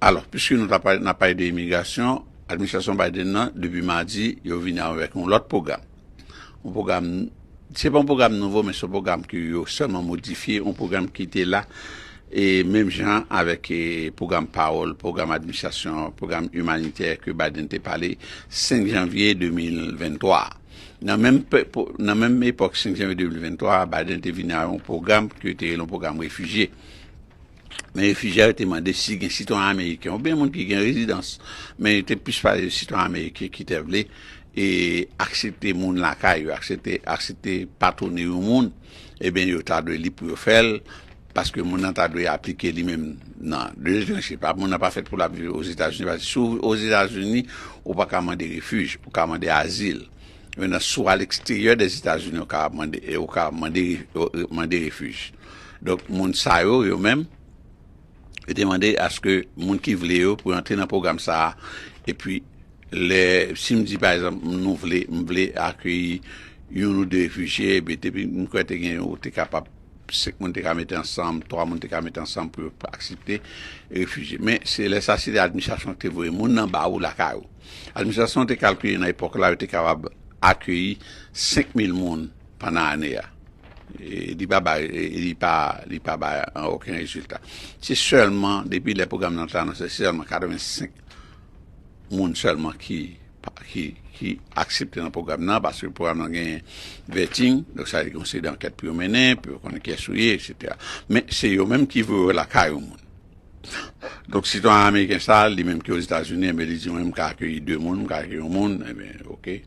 Alò, piske nou ta pale, n ap pale de imigrasyon, administrasyon Biden nan, depi madi, yo vini avèk yon lòt pwogram. Yon pwogram, se pa yon pwogram nouvo, men se yon pwogram ke yo sèlman modifye, yon pwogram ki te la, e menm jan avèk e pwogram Parole, pwogram administrasyon, pwogram imanitè ke Biden te pale 5 janvye 2023 a. Nan menm pe, po, nan menm epòk 5 janvye 2023 a, Biden te vini a yon pwogram ke yo te rele yon pwogram refijye. Men refijye a yo te mande si gen sitwayen ameriken oubyen moun ki gen rezidans, men yo te plis pale de sitwayen ameriken ki te vle e aksepte moun lakay yo, aksepte aksepte patwone yon moun, ebyen yo ta dwe lib pou yo fè l, paske moun nan ta dwe aplike li menm nan de etranje, pa moun nan pa fèt pou l ap viv ozetazini, paske si w ozetazini ou pa ka mande refij, ou ka mande azil, menna si w a leksteryè dèzetazini ou ka mande e ou ka mande mande refij. Donk moun sa yo, yo menm, yo te mande aske moun ki vle yo pou antre nan pwogram sa a, epi lè, si m di pa egzanp nou vle, m vle akeyi youn ou de refijye, epi depi m kwè te gen ou te kapab, senk moun te ka mete ansanm, twa moun te ka mete ansanm pou yo aksepte refijye. Men se lè sa se lè administrasyon ki te voye moun nan ba ou lakay ou. Administrasyon te kalkile nan epòk la yo te kapab akeyi senk mil moun pandan ane a. Li pa bay, li pa, li pa bay oken rezilta. Se sèlman, depi lè pwogram nan te anonse, se sèlman 85 moun sèlman ki, ki, ki aksepte nan pwogram nan, paske pwogram nan genyen vetting, donk sa vle di gen yon seri dankèt pou yo mennen, pou yo konnen kiyès ou ye, eksetera. Men se yo menm ki voye w lakay yon moun. Donk sitwayen ameriken sa, li menm ki ozetazini, enben li di mwen m ka akeyi 2 moun, m ka akeyi yon moun, enben oke.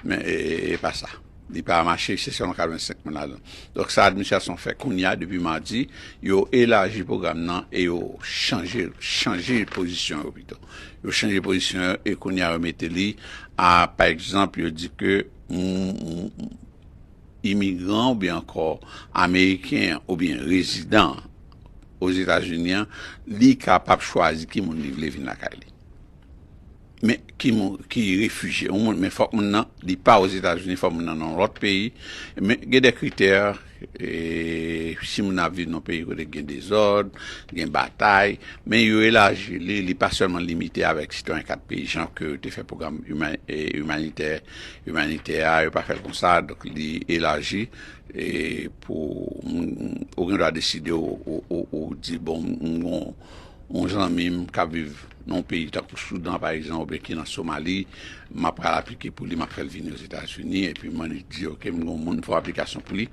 Men e pa sa. Li pa mache se sèlman 85 moun ladan. Donk sa administrasyon fè kounye a depi madi, yo elaji pwogram nan e yo chanje l, chanje pozisyon yo pito. Yo chanje pozisyon yo e kounye a yo mete li a pa egzanp yo di ke imigran oubyen ankò ameriken an oubyen rezidan an Ozetazini an li kapab chwazi ki moun li vle vin lakay li. men ki mouri ki refijye ou moun men fòk moun nan li pa ozetazini fòk moun nan nan yon lòt peyi men gen de kritè si moun nan ap viv nan peyi kote ki gen dezòd gen batay men yo elaji li li pa sèlman limite avèk sitwayen 4 peyi jan ke yo te fè pwogram imanitè imanitè a yo pa fèl konsa donk li elaji pou moun ou gen dwa deside ou di bon moun yon zanmi m kap viv nan yon peyi tankou Soudan pa egzanp oubyen ki nan Somali map pral aplike pou li map fèl vini ozetazini epi mwen di ok m gen yon moun fè yon aplikasyon pou li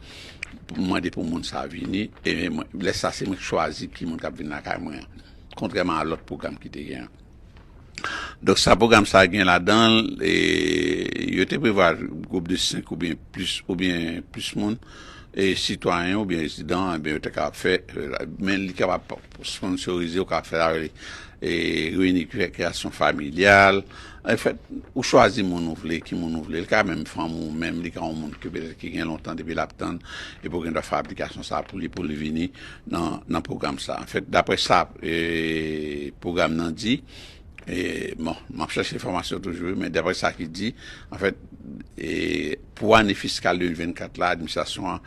pou m mande pou moun sa vini e mwen lè sa se mwen ki chwazi ki moun kap vin lakay mwen an kontrèman a lòt pwogram ki te gen an. Donk sa pwogram sa a gen ladan l, yo te prevwa gwoup de 5 oubyen plis oubyen plis moun, sitwayen oubyen rezidan, enben yo te kapab fè, men li kapab sponnsorize, ou kapab fè l avèk reyini ki fè kreyasyon familyal, anfèt, ou chwazi moun ou vle, ki moun ou vle, li ka menm fanmi w menm, li ka yon moun ki petèt ki gen lontan depi l ap tann epi w gen dwa fè aplikasyon sa a pou li pou li vini. nan pwogram sa. Anfèt, daprè sa pwogram nan di, bon, m ap chèche enfòmasyon toujou wi, men daprè sa ki di, anfèt, pou ane fiskal 2024 la, administrasyon an,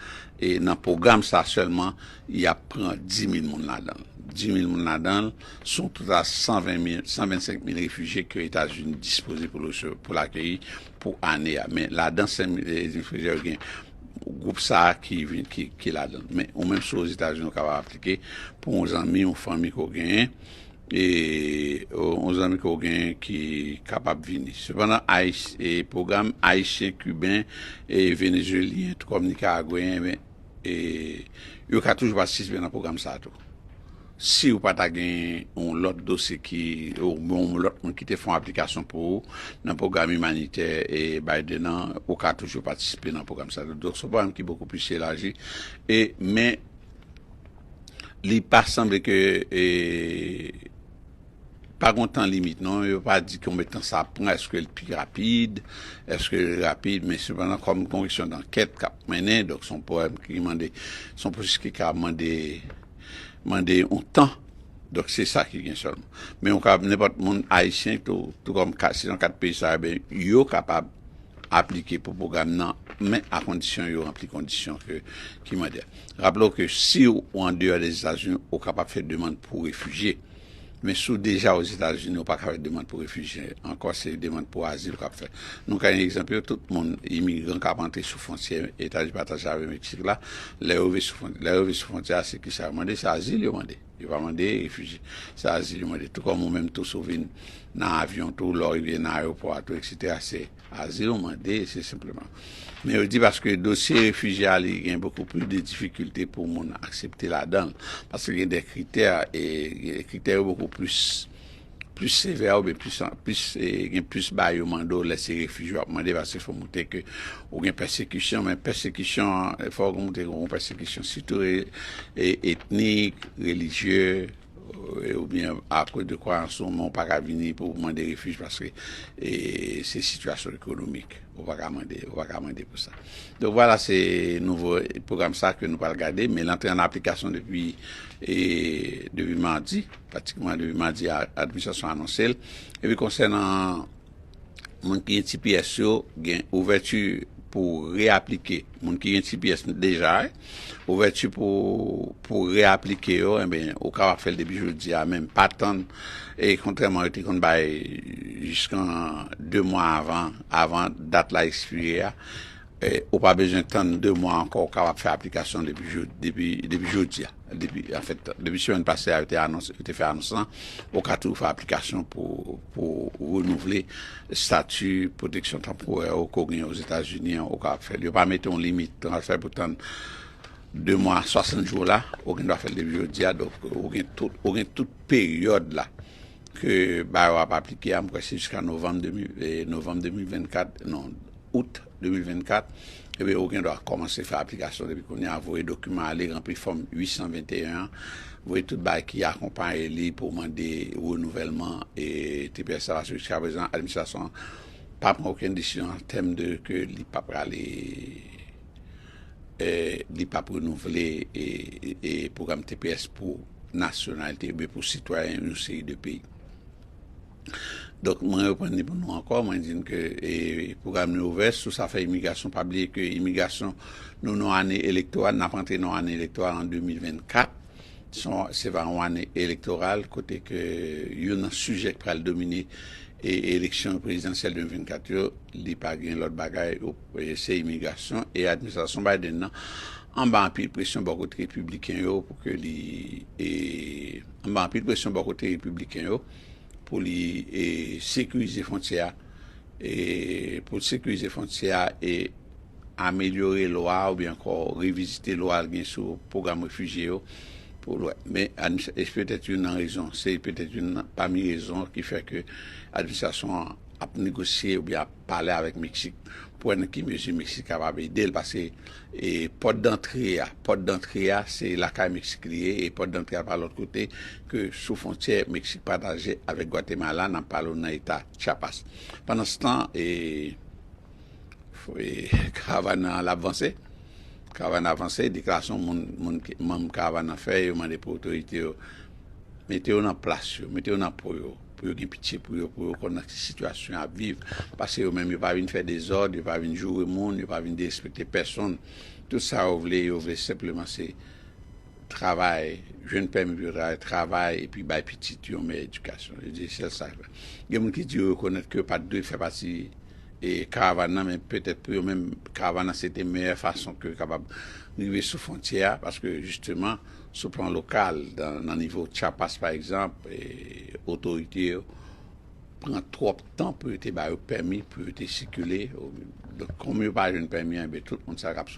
nan pwogram sa sèlman, y ap pran 10.000 moun ladan l. 10.000 moun ladan l, sou yon total 125.000 refijye ke Etazini dispoze pou l akeyi pou ane a men ladan sèm ezi frejè yo gen gwoup sa ki vin ki ladan men ou menm sou ozetazini ou kapab aplike pou yon zanmi yon fanmi ko genyen e yon zanmi ko genyen ki kapab vini sepandan ayis e pwogram ayisyen kiben e venezyelyen kòm nikaragweyen men e yo ka toujou patisipe nan pwogram sa tou. Si yo pa ta gen yon lòt dosye ki, oubyen yon lòt moun ki te fè yon aplikasyon pou ou nan pwogram imanitè e Biden an, ou ka toujou patisipe nan pwogram sa tou. Donk se yon pwogram ki bokou plis elaji. E, men, li pa sanble ke e. Pa gon tan limit non, yo pa di konbe tan sa ap pran, eske l pi rapid, eske l rapid, men sepandan kòm gon kesyon dankèt k ap mennen, donk son pwoblèm ki mande, son pwosesis ki ka mande, mande yon tan, donk se sa ki gen sèlman. Men ou kab nenpòt moun ayisyen tou, tou kòm ka se nan kat peyi sa ben yo kapab aplike pou pwogram nan, men a kondisyon yo ranpli kondisyon ke ki mande a. Raple w ke si ou andeyò Lèzetazini ou kapab fè demann pou refijye. Men si w deja Ozetazini ou pa ka fè demand pou refijye ankò, se demand pou azil w ap fè. Nou ka yon egzanp yo, tout moun imigran k ap antre sou fwontyè Etazini pataje avèk Meksik la, lè yo rive sou fwontyè, lè yo rive sou fwontyè a se kisa yo mande? Se azil yo mande, yo pa mande refijye, se azil yo mande. Tou kòm ou menm tou si w vin nan avyon tou, lè w rive nan ayewopò a tou eksetera se. Azil ou mande, se senpleman. Men yo di paske dosye refijye a li gen bokou plis de difikilte pou moun aksepte ladan l. Paske gen de kritè e kritè yo bokou plis plis sevè oubyen plis plis e gen plis bagay yo mande w lè se refijye w ap mande paske fò w montre ke ou gen pèsekisyon men pèsekisyon an fò w montre ke w gen pèsekisyon sitou e etnik, relijye. ou byen akoz de kwayans ou, men ou pa ka vini pou ou mande refij paske se sitiyasyon ekonomik, ou pa ka mande, ou pa ka mande pou sa. Donk vwala se nouvo pwogram sa ke nou pral gade, men l antre an aplikasyon depi depi madi, pratikman depi madi administrasyon anonse l, epi konsènan. moun ki gen tps yo gen ouvèti pou reaplike moun ki gen tps deja ouvèti pou reaplike yo enben ou ka wap fèl depi jodi a menm pa tann e kontrèman yo te konn bay jiskan 2 mwa avan dat la ekspire a Ou pa bezwen tann 2 mwa ankò, ou kapab fè aplikasyon depi jodi a. Anfèt, depi semèn pase a yo te fè anons lan, ou ka toujou fè aplikasyon pou ou renouvle estati pwoteksyon tanporè ou ke w genyen Ozetazini an, ou kapab fè li. Yo pa mete yon limit, ou pa bezwen tann 2 mwa, 60 jou la, ou gendwa fè l depi jodi a, donk ou gen tout peryòd la. ke ba yo ap aplike a, m kwè se jiska novanm 2024, non, out 2024, ebyen ou gen dwa kòmanse fè aplikasyon depi kounye a, voye dokiman ale, ranpli fòm 821 an, voye tout bagay ki akonpaye li pou mande renouvèlman tps la, paske jiska prezan administrasyon an pa pran okenn desizyon an tèm de ke li pa prale, li pa ap renouvle pwogram tps pou. nasyonalite oubyen pou sitwayen yon seri de peyi. Donk mwen reprann li pou nou ankò, mwen di n ke pwogram nou ouvè sou sa fè imigrasyon, pa bliye ke imigrasyon nou nan ane elektoral, n ap antre nan ane elektoral an 2024, se va yon ane elektoral kote ke youn nan sijè ki pral domine eleksyon prezidansyèl 2024 yo, li pa gen lòt bagay. Sè imigrasyon e administrasyon Biden nan anba anpil presyon bò kote repibliken yo pou ke li e anba anpil presyon bò kote repibliken yo pou li e sekirize fontyè a e pou l sekirize fontyè a e amelyore lwa oubyen ankò revizite lwa l gen sou pwogram refijye yo pou l wè. Men administra e se petèt youn nan rezon se petèt youn nan pami rezon ki fè ke administrasyon an ap negosye oubyen ap. pale avèk Meksik pou wè nan ki mezi Meksik kapab ede l paske pòt dantre a, pòt dantre a se lakay Meksik li ye e pòt dantre a pa lòt kote ke sou fwontyè Meksik pataje avèk Gwatemala nan pale w nan eta Chiapas. Pandanstan e karavàn nan l ap vanse, karavàn nan ap vanse, deklarasyon moun moun manm karavàn nan fè yo mande pou otorite yo mete yo nan plas yo, mete yo nan po yo. pou yo gen pitye pou yo, pou yo konn nan ki sitiyasyon y ap viv, paske yo menm yo pa vin fè dezòd, yo pa vin joure moun, yo pa vin derespekte pèsonn, tout sa yo vle, yo vle senpleman se travay, jwenn pèmi pou yo travay, travay epi bay pitit yo yon meyè edikasyon, yo di sèl sa yo vle. Gen moun ki di yo rekonèt ke yo pa t dwe fè pati karavàn nan, men petèt pou yo menm karavàn nan se te meyè fason ke yo kapab rive sou fwontyè a, paske jisteman Sou plan lokal, nan nivo Chiapas pa egzanp, otorite yo pran twòp tan pou yo te ba yo pèmi pou yo te sikile. Donk, kòm yo pa jwenn pèmi an, enben tout moun sa k ap.